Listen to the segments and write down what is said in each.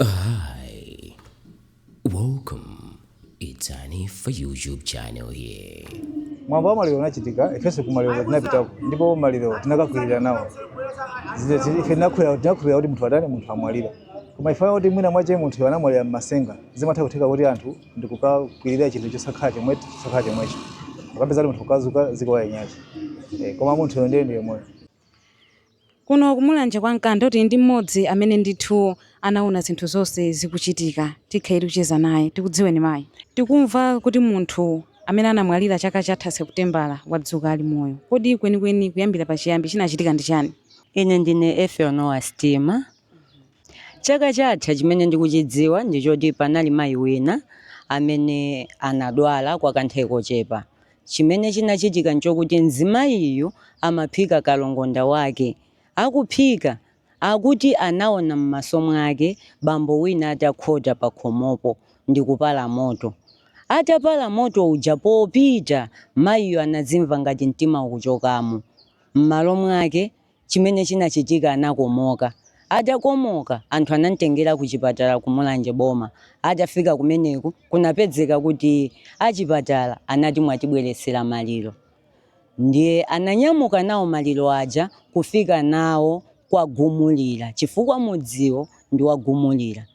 Hi, welcome. It's Annie for YouTube channel here. mwambo wa maliro unachitika ifenso kumaliro tinapitako ndipo maliro tinakakwirira nawo Zine- zine- ife tinakhulira tinakhulira kuti munthu atani munthu amwalire koma ife kuti mwina mwake munthuyo anamwalira mmasenga zimatha kutheka kuti anthu ndikukakwirira chinthu chosakhala chomwe chosakhala chomwecho ukapeza kuti munthu ukazuka ziko wayenyacho koma munthuyo ndiye ndi moyo Kuno ku Mulanje kwa Nkanda tili ndi mmodzi amene ndithu anaona zinthu zonse zikuchitika. Tikhala tikucheza naye. Tikudziweni mayi? Tikumva kuti munthu amene anamwalira chaka chatha Seputembala wadzuka ali moyo. Kodi kwenikweni kuyambira pachiyambi chinachitika ndi chani? Ine ndine Ethel Noah Stima. Chaka chatha chimene ndikuchidziwa ndi choti panali mayi wina amene anadwala kwa kanthawi kochepa Chimene chinachitika nchokuti mzimayiyu amaphika kalongonda wake. Akuphika, akuti anaona m'maso mwake bambo wina atakhota pakhomopo ndikupala moto. Atapala moto uja popita, mayiyu anadzimva ngati mtima ukuchokamo. M'malo mwake, Chimene chinachitika anakomoka. Atakomoka anthu anamtengera ku chipatala ku Mulanje boma. Atafika kumeneko kunapezeka kuti achipatala anati mwatibweretsera maliro. Ndiye ananyamuka nawo maliro aja kufika nawo kwa Gumulira chifukwa mudziwo ndi wa Gumulira.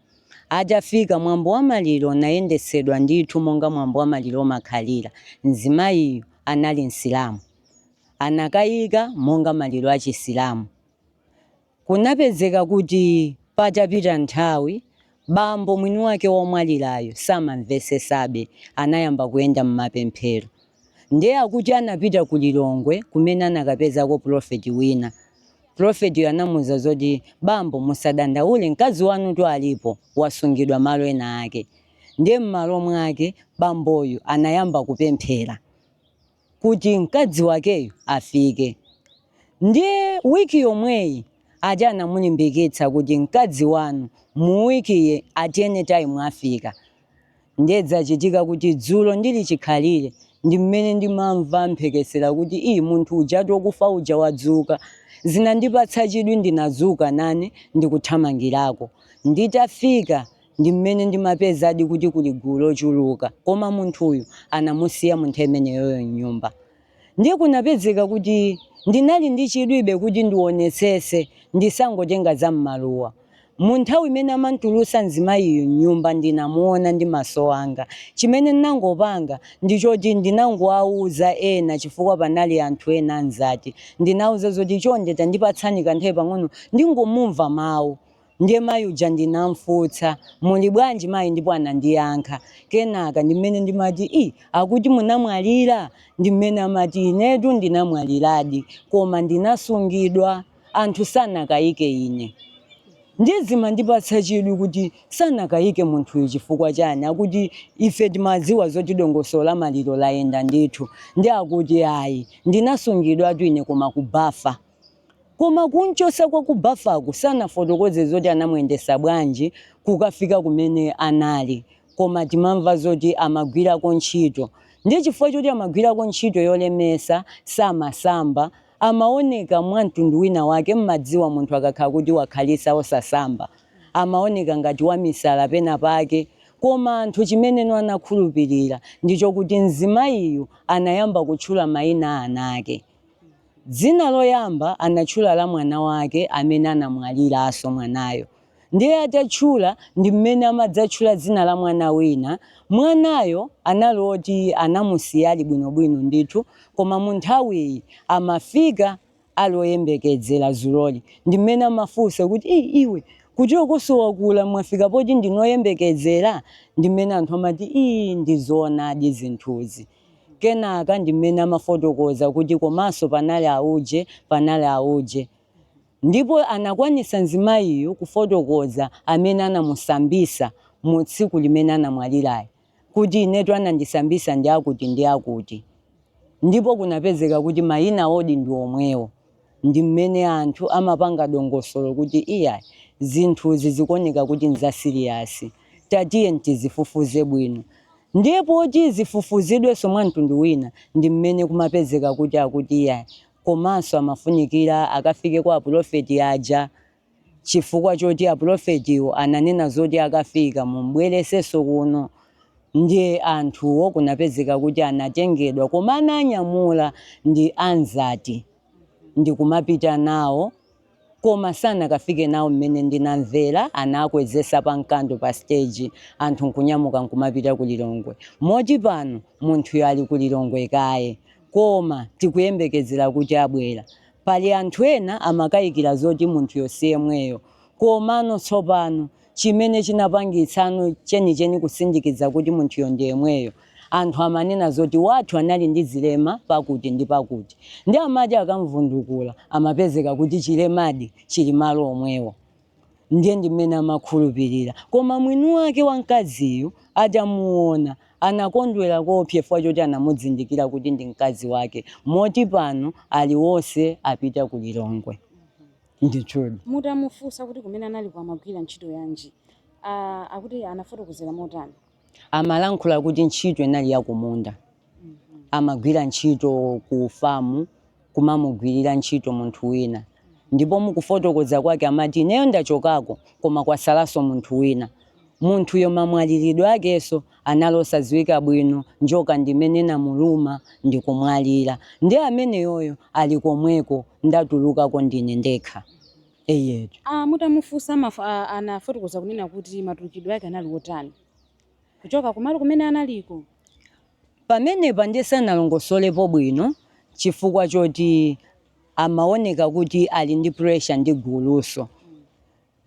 Atafika mwambo wa maliro unayendetsedwa ndithu monga mwambo wa maliro umakhalira. Mzimayiyu anali Msilamu. anakayika monga maliro a Chisilamu. Kunapezeka kuti patapita nthawi bambo mwini wake womwalirayo samamvetsetsabe anayamba kuyenda mmapemphero. Ndiye akuti anapita ku Lilongwe kumene anakapezako pulofeti wina. Pulofetiyo anamuuza zoti bambo musadandaule mkazi wanutu alipo wasungidwa malo ena ake. Ndiye mmalo mwake bamboyu anayamba kupemphera. kuti mkazi wakeyo afike. Ndiye week yomweyi ati anamulimbikitsa kuti mkazi wanu mu week yi at any time afika. Ndiye zachitika kuti dzulo ndili chikhalire ndi mmene ndimamva mphekesera kuti ii munthu ujatu okufa uja wadzuka. Zinandipatsa chidwi ndinadzuka nane ndikuthamangirako. Nditafika Ndi mmene ndimapezadi kuti kuli gulu lochuluka koma munthuyu anamusiya munthawi imeneyoyo mnyumba ndiye kunapezeka kuti ndinali ndi chidwibe kuti ndiwonetsetse ndisangotenga za mmaluwa munthawi imene amantulusa mzimayiyu mnyumba ndinamuona ndi maso anga chimene ndinangopanga ndichoti ndinangowauza ena chifukwa panali anthu ena anzathu ndinawauza zoti chonde tandipatsani kanthawi pang'ono ndingomumva mawu Ndiye mayi uja ndinamfunsa, muli bwanji mayi ndipo anandiyankha. Kenaka ndi mmene ndimati ii akuti munamwalira? Ndi mmene amati inetu ndinamwaliradi koma ndinasungidwa. Anthu sanakayike ine. Ndiye zimandipatsa chidwi kuti sanakayike munthuyu chifukwa chani akuti ife timadziwa zoti dongosolo la maliro layenda ndithu. Ndiye akuti ayi ndinasungidwatu ine koma ku bafa. Koma kumchotsa kwa ku bafaku sanafotokoze zoti anamuyendetsa bwanji kukafika kumene anali koma timamva zoti amagwirako ntchito nde chifukwa choti amagwirako ntchito yolemetsa samasamba amaoneka mwa mtundu wina wake mmadziwa munthu akakhala kuti wakhalitsa osasamba amaoneka ngati wamisala pena pake koma anthu chimeneno anakhulupilira ndichokuti mzimayiyu anayamba kutchula mayina a ana ake Dzina loyamba anatchula la mwana wake amene anamwaliranso mwanayo. Ndiye atatchula ndi mmene amadzatchula dzina la mwana wina. Mwanayo anali oti anamusiya ali bwinobwino ndithu koma mu nthawiyi amafika ali oyembekedzera dzuloli ndi mmene amafunsa kuti ii iwe kuti okonso wakula mwafika poti ndinu oyembekezera ndi mmene anthu amati ii ndi zoonadi zinthuzi. Kenaka ndi mmene amafotokoza kuti komanso panali auje, panali auje. Ndipo anakwanisa mzimayiyu kufotokoza amene anamusambisa mu tsiku limene anamwaliralo kuti inetu anandisambisa ndi akuti ndi akuti. Ndipo kunapezeka kuti mayina awo ndi omwewo. ndi mmene anthu amapanga dongosolo kuti iyayi zinthuzi zikuoneka kuti ndi za siliyasi tatiyeni tizifufuze bwino ndiye poti zifufuzidwenso mwa mtundu wina ndi mmene kumapezeka kuti akuti iyayi komanso amafunikira akafike kwa apulofeti aja Chifukwa choti apulofetiwo ananena zoti akafika mumbweresenso kuno nde anthuwo kunapezeka kuti anatengedwa koma anawanyamula ndi anzathu ndikumapita nawo koma sanakafike nawo mmene ndinamvera anakwezesa pa mkando pa stage anthu nkunyamuka nkumapita ku Lilongwe moti pano munthuyo ali ku Lilongwe kaye koma tikuyembekezera kuti abwera Pali anthu ena amakaikira zoti munthuyo si yemweyo. Komano tsopano, chimene chinapangitsano chenicheni kusindikiza kuti munthuyo ndi yemweyo, anthu amanena zoti wathu anali ndi zilema pakuti ndi pakuti. Ndiye amati akamvundukula amapezeka kuti chilemadi chili malo omwewo. Ndiye ndi mmene amakhulupirira. Koma mwini wake wa mkaziyu atamuona, anakondwera koopsa chifukwa choti anamuzindikira kuti ndi mkazi wake moti pano ali onse apita ku Lilongwe. Ndithudi. Mutamufunsa kuti kumene analiko amagwira ntchito yanji, a akuti anafotokozera motani? amalankhula kuti ntchito inali ya kumunda. Amagwira ntchito ku famu, kumamugwirira ntchito munthu wina. Ndipo mukufotokoza kwake amati, ineyo ndachokako, koma kwatsalanso munthu wina. Munthuyo mamwaliridwe akenso anali osadziwika bwino, njoka ndi imene inamuluma ndi kumwalira. Ndiye ameneyoyo ali komweko, ndatulukako ndine ndekha. Eyetu. a Mutamufunsa anafotokoza kunena kuti matulukidwe ake anali otani kuchoka kumalo kumene analiko? Pamenepa ndiye sanalongosolepo bwino chifukwa choti amaoneka kuti ali ndi pressure ndi gulunso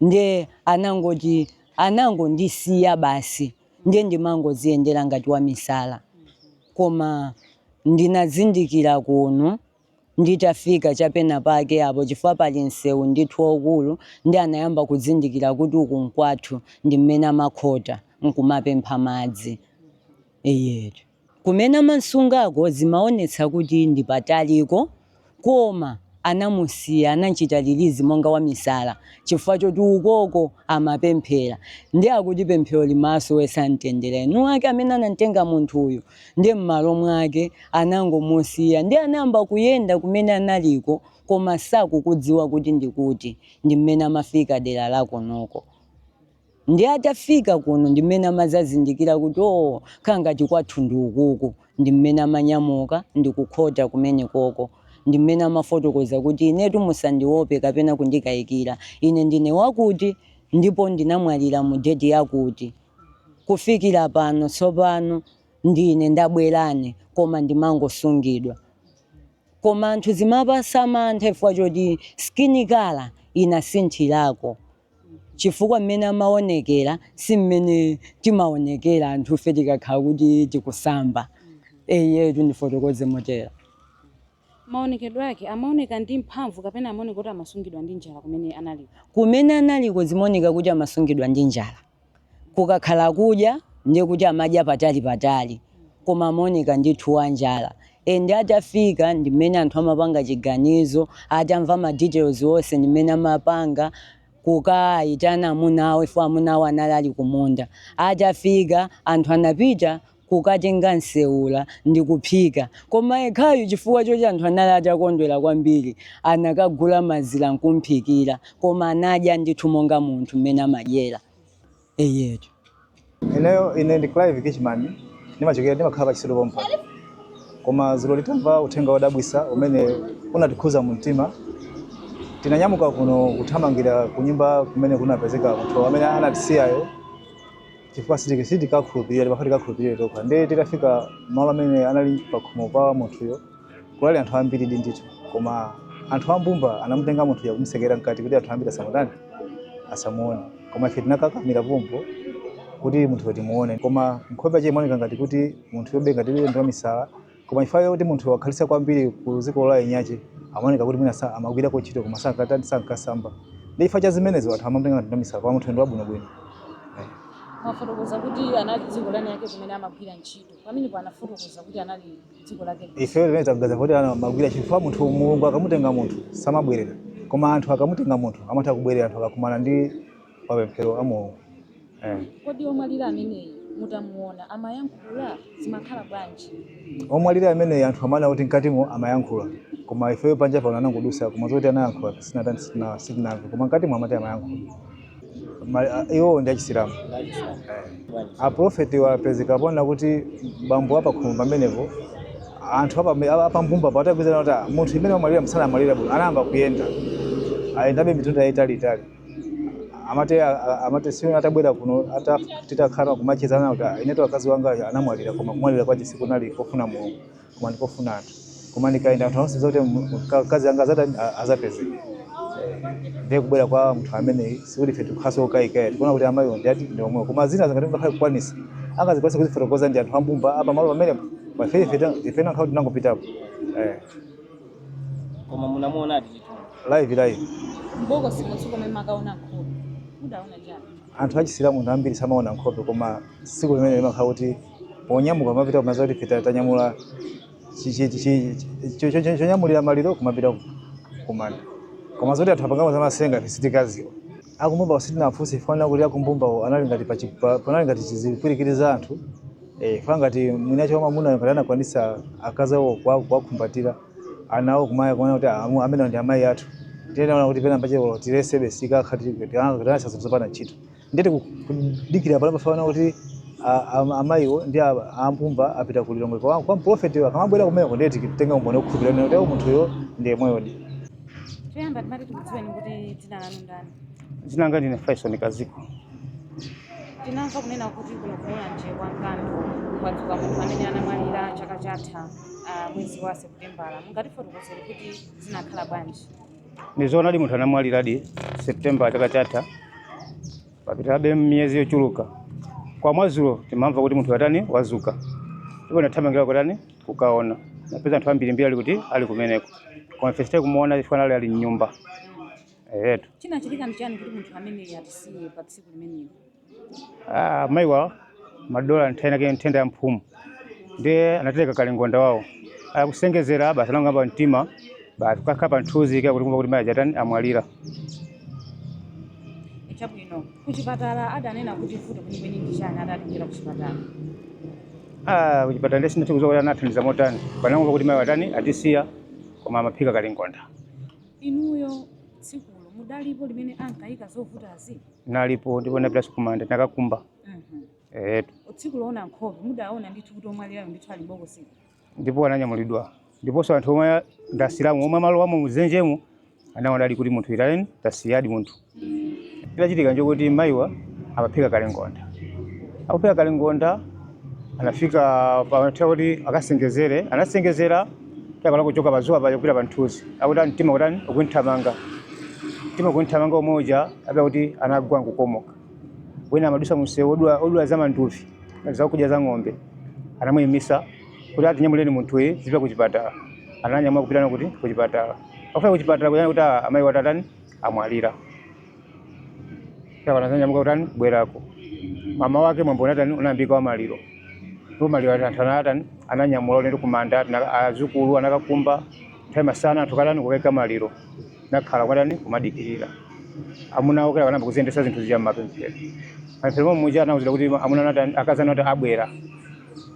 ndiye anangoti anangondisiya basi ndiye ndimangodziyendera ngati wamisala koma ndinazindikira kuno. nditafika cha penapake apo chifukwa pali msewu ndithu waukulu ndiye anayamba kuzindikira kuti uku nkwathu ndi mmene amakhota nkumapempha madzi iye kumene amamusungako zimaonetsa kuti ndi pataliko koma anamusiya anamchita release monga wamisala chifukwa choti ukoko amapemphera ndiye akuti pemphero limasowetsa mtendere eni ake amene anamtenga munthuyu Ndiye mmalo mwake anangomusiya ndiye anayamba kuyenda kumene analiko koma sakukudziwa kuti ndikuti ndi mmene amafika dera lakonoko. Ndiye atafika kuno ndi mmene amazazindikira kuti oo khala ngati kwathu ndi ukuku ndi mmene amanyamuka ndikukhota kumenekoko. Ndi mmene amafotokoza kuti inetu musandiwope kapena kundikayikira ine ndine wakuti ndipo ndinamwalira mu deti yakuti. kufikira pano tsopano ndine ndabwerano koma ndimangosungidwa koma anthu zimawapatsa mantha chifukwa choti skin colour inasinthirako chifukwa mmene amaonekera si mmene timaonekera anthufe tikakhala kuti tikusamba eyetu ndifotokoze motero Maonekedwe ake amaoneka ndi mphamvu kapena amaoneka kuti amasungidwa ndi njala kumene analiko? Kumene analiko zimaoneka kuti amasungidwa ndi njala. Kukakhala kudya ndiye kuti amadya patali patali koma amaoneka ndithu wa njala and atafika ndi mmene anthu amapanga chiganizo atamva ma details onse ndi mmene amapanga kukaitana amuna awo chifukwa amuna awo anali ali kumunda. Atafika anthu anapita kukatenga nsewula ndi kuphika. Koma yekhayu chifukwa choti anthu anali atakondwera kwambiri, anakagula mazira n'kum'phikira. Koma anadya ndithu monga munthu mmene amadyera. Eyetu. Ineyo, ine ndi Clive Kitchman, ndimachokera, ndimakhala pa Chisilu pompano. Koma dzulo titamva uthenga wodabwitsa umene unatikhudza mumtima, tinanyamuka kuno kuthamangira kunyumba kumene kunapezeka munthu amene anatisiyayo. chifukwa sitiki sitikakhulupirira timafuna tikakhulupirire tokha ndiye titafika malo amene anali pakhomo pa munthuyo kunali anthu ambiri di ndithu koma anthu ambumba anamutenga munthuyo kumutsekera mkati kuti anthu ambiri asamutani asamuone koma ife tinakakamira pompo kuti munthuyo timuone koma nkhope yache imaoneka ngati kuti munthuyobe ngati iye ndi wamisala koma chifukwa chakuti munthu wakhalitsa kwambiri ku dziko la eniake amaoneka kuti mwina sa- amagwirako ntchito koma sankatani sankasamba ndi chifukwa cha zimenezo anthu amamutenga ngati ndi wamisala koma munthu ndi wabwinobwino mwafotokoza kuti anali dziko la eni ake kumene amagwira ntchito pamene sanafotokoze kuti anali dziko lake ife mmene tikuganiza kuti ankamagwira ntchito chifukwa munthu mulungu akamutenga munthu samabwerera koma anthu akamutenga munthu amatha kubwerera anthu akakumana ndi mapemphero a Mulungu. Eh. Kodi omwalira ameneyi mutamuona amayankhula zinakhala bwanji? Omwalira ameneyi anthu amanena kuti mkatimo amayankhula koma ifeyo panja pano anangodusa koma zoti anayankhula sinatani sitina- sitinamve koma mkatimo amati amayankhula. Ma- a- Iwo ndi achisilamu. Aprofeti wapezekapo ponena kuti bambo apakhomo pamenepo anthu apame- apa- apambumba pa ataganiza kuti "Ah, munthu amene wamwalira sanamwalire bwino anayamba kuyenda ayendabe mitunda yaitaliitali amati a- a- amati si atabwera kuno ata titakhala nkumacheza nawo kuti inetu akazi wanga anamwalira koma kumwalira kwache sikunali kofuna mulungu koma ndikofuna anthu koma ndikayenda anthu onse zoti akazi anga azatani azapezeke ndiye kubwera kwa munthu amene sikuti ife tikhalenso okayika ayi tikuona kuti amayi ndi ati ndi omwewo koma zina zingati zingakhale kukwanisa angazikwanisa kuzifotokoza ndi anthu ambumba apa malo pamenepo ifeyo ifenso nkhawo tinangopitapo eh. koma munamuonadi chithunzi live live mbokosi munthu komwe makaona nkhope mudaona chani anthu achisilamu nthawi zambiri samaona nkhope koma tsiku limene limakhala kuti ponyamuka kumapita kumanda kuti ife tanyamula chi- chi- chi- chi- cho- cho- cho- chonyamulira maliro kumapita kumanda koma zoti anthu apangamo zamasenga ife sitikaziwa akumbumbawo sitinafunse chifukwa kuti akumbumbawo anali ngati pa chi- pa- panali ngati chizipwirikiti za anthu eh, chifukwa ngati mwinacho wamamuna ngati anakwanisa akazi awo kuwa- kuwakhumbatira ana awo kumatha kuona kuti amu- amene ndi amayi athu tinaona kuti pena pakepo tilesebe tikakhala tikufunsa zinthu zopanda ntchito ndiye tikudikira pano poona kuti a- a- amayiwo ndi a- ambumba apita ku lilongwe kwa kwa mprofeti akamabwera kumeneko ndiye titenga umboni okhulupirira kuti munthuyo ndiye yemweyodi Choyamba timati tikudziweni kuti dzina lanu ndani? Dzina langa ndine Faison Kaziko. Tinamva kunena kuti kuno ku Mulanje kwa Nkando kwadzuka munthu amene anamwalira chaka chatha ah, mwezi wa Seputembala. Mungatifotokozere kuti zinakhala bwanji? Ndizoonadi munthu anamwaliradi September chaka chatha, papitabe miyezi yochuluka. Koma mwazulo timamva kuti munthu uja watani wazuka, ndipo nathamanga kukatani kukaona napeza anthu ambirimbiri ali kuti ali kumeneko koma ife sitidamuone chifukwa anali ali mnyumba ehetu chinachitika ndi chani kuti munthu ameneyo atisiye pa tsiku limenelo Ah, mayiwa amadwala nthenda yake nthenda ya mphumu ndiye anatereka kalongonda wawo akusengezera basi anang'amba mtima basi kukakhala pa mthunzi ndiye kuti kumva kuti mayi aja atani amwalira chabwino Kuchipatala adanena kuti vuto kwenikweni ndi chani atatengeredwa kuchipatala? Ah, kuchipatala nde sindinathe kudziwa kuti anathandiza motani. Tinangomva kuti mayiwa atani atisiya koma amaphika kalongonda. Inuyo tsikulo mudalipo limene ankayika zovutazi? Nalipo ndipo ndinapitanso kumanda ndinakakumba. Mhm. Ehetu. Tsiku loona nkhope mudaona ndithu kuti omwalirayo ndithu ali m'bokosimo? ndipo ananyamulidwa ndiponso anthu omwe ndi asilamu omwe amalowamo muzenjemo anaonadi kuti munthuyi atani atisiyadi munthu chidachitika nchokuti mayiwa amaphika kalongonda akuphika kalongonda anafika poti kuti akasengezere anasengezera atakhala kuchoka pazuwa paja kupita panthuzi akuti mtima ukutani ukumuthamanga mtima ukumuthamanga momwe muja ndiye kuti anagwa nkukomoka wina amadusa mumsewu odula odula za manduvi ngati zakudya za ng'ombe anamuyimisa kuti atinyamuleni munthuyi tizipita ku chipatala ananyamula kupita naye kuti ku chipatala akufika ku chipatala kuja nde kuti "Ah, amayiwa atani amwalira basi anadzanyamuka kutani kubwerako mmawa wake mwambo unatani unayambika wamaliro ndipo maliro ati anthu anatani ananyamula ulendo kumanda ati na- azukulu anakakumba nthawi ya masana anthu kukatani kukaika maliro Anakhala kutani kumadikirira. Amuna awo kenako anayamba kuziyendetsa zinthu zija mmapemphero. Mmapemphero momwe muja anawuzidwa kuti amuna anatani akazi anu atani abwera.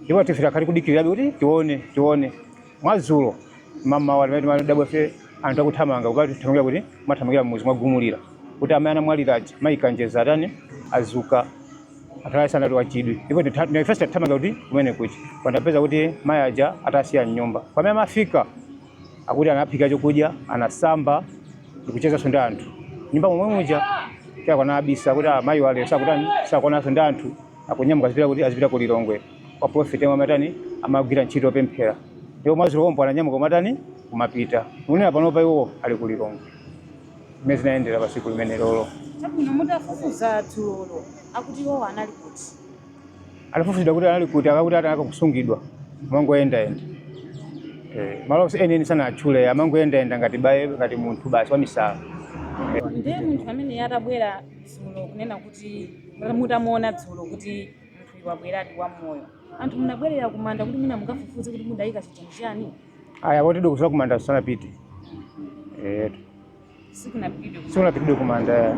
Ndipo ife tikukhala kudikirirabe kuti tione tione. Mwazulo mamawa limene timadabwa ife anthu akuthamanga kuti akuthamangira kuti amathamangira mmudzi mwa Gumulira. Kuti amene anamwalira aja mayi Kanjeza atani azuka. Anthu ayise anali ndi chidwi. Ndipo ifenso tathamanga kuti kumeneko. Koma tapeza kuti mayi aja atsekera mnyumba. Pamene amafika akuti anaphika chokudya anasamba ndikuchezanso ndi anthu mnyumba momwe muja kenako anabisa kuti ah, mayiwa lero sakutani sakuonanso ndi anthu akunyamuka azipita kuti azipita ku lilongwe kwa profeti yemwe amatani amagwira ntchito yopemphera ndipo mwazulo lomwelo ananyamuka kumatani kumapita ndikunena panopa iwo ali ku lilongwe zimene zinayendera pa tsiku limenelolo Chabwino mutafufuza dzulolo akuti iwowo anali kuti Atafufuza kuti anali kuti akakuti atanaka kusungidwa amangoyendayenda Eh, malo onse enieni sanatchule amangoyendayenda ngati baye ngati munthu basi wamisala ndiye munthu amene atabwera dzulo kunena kuti mutamuona dzulo kuti munthuyu wabweradi wa moyo anthu munabwerera kumanda kuti mwina mukafufuze kuti mudayika chitini chani aya poti dikusola kumanda sanapite Eh, sikunapitidwe sikunapitidwe kumanda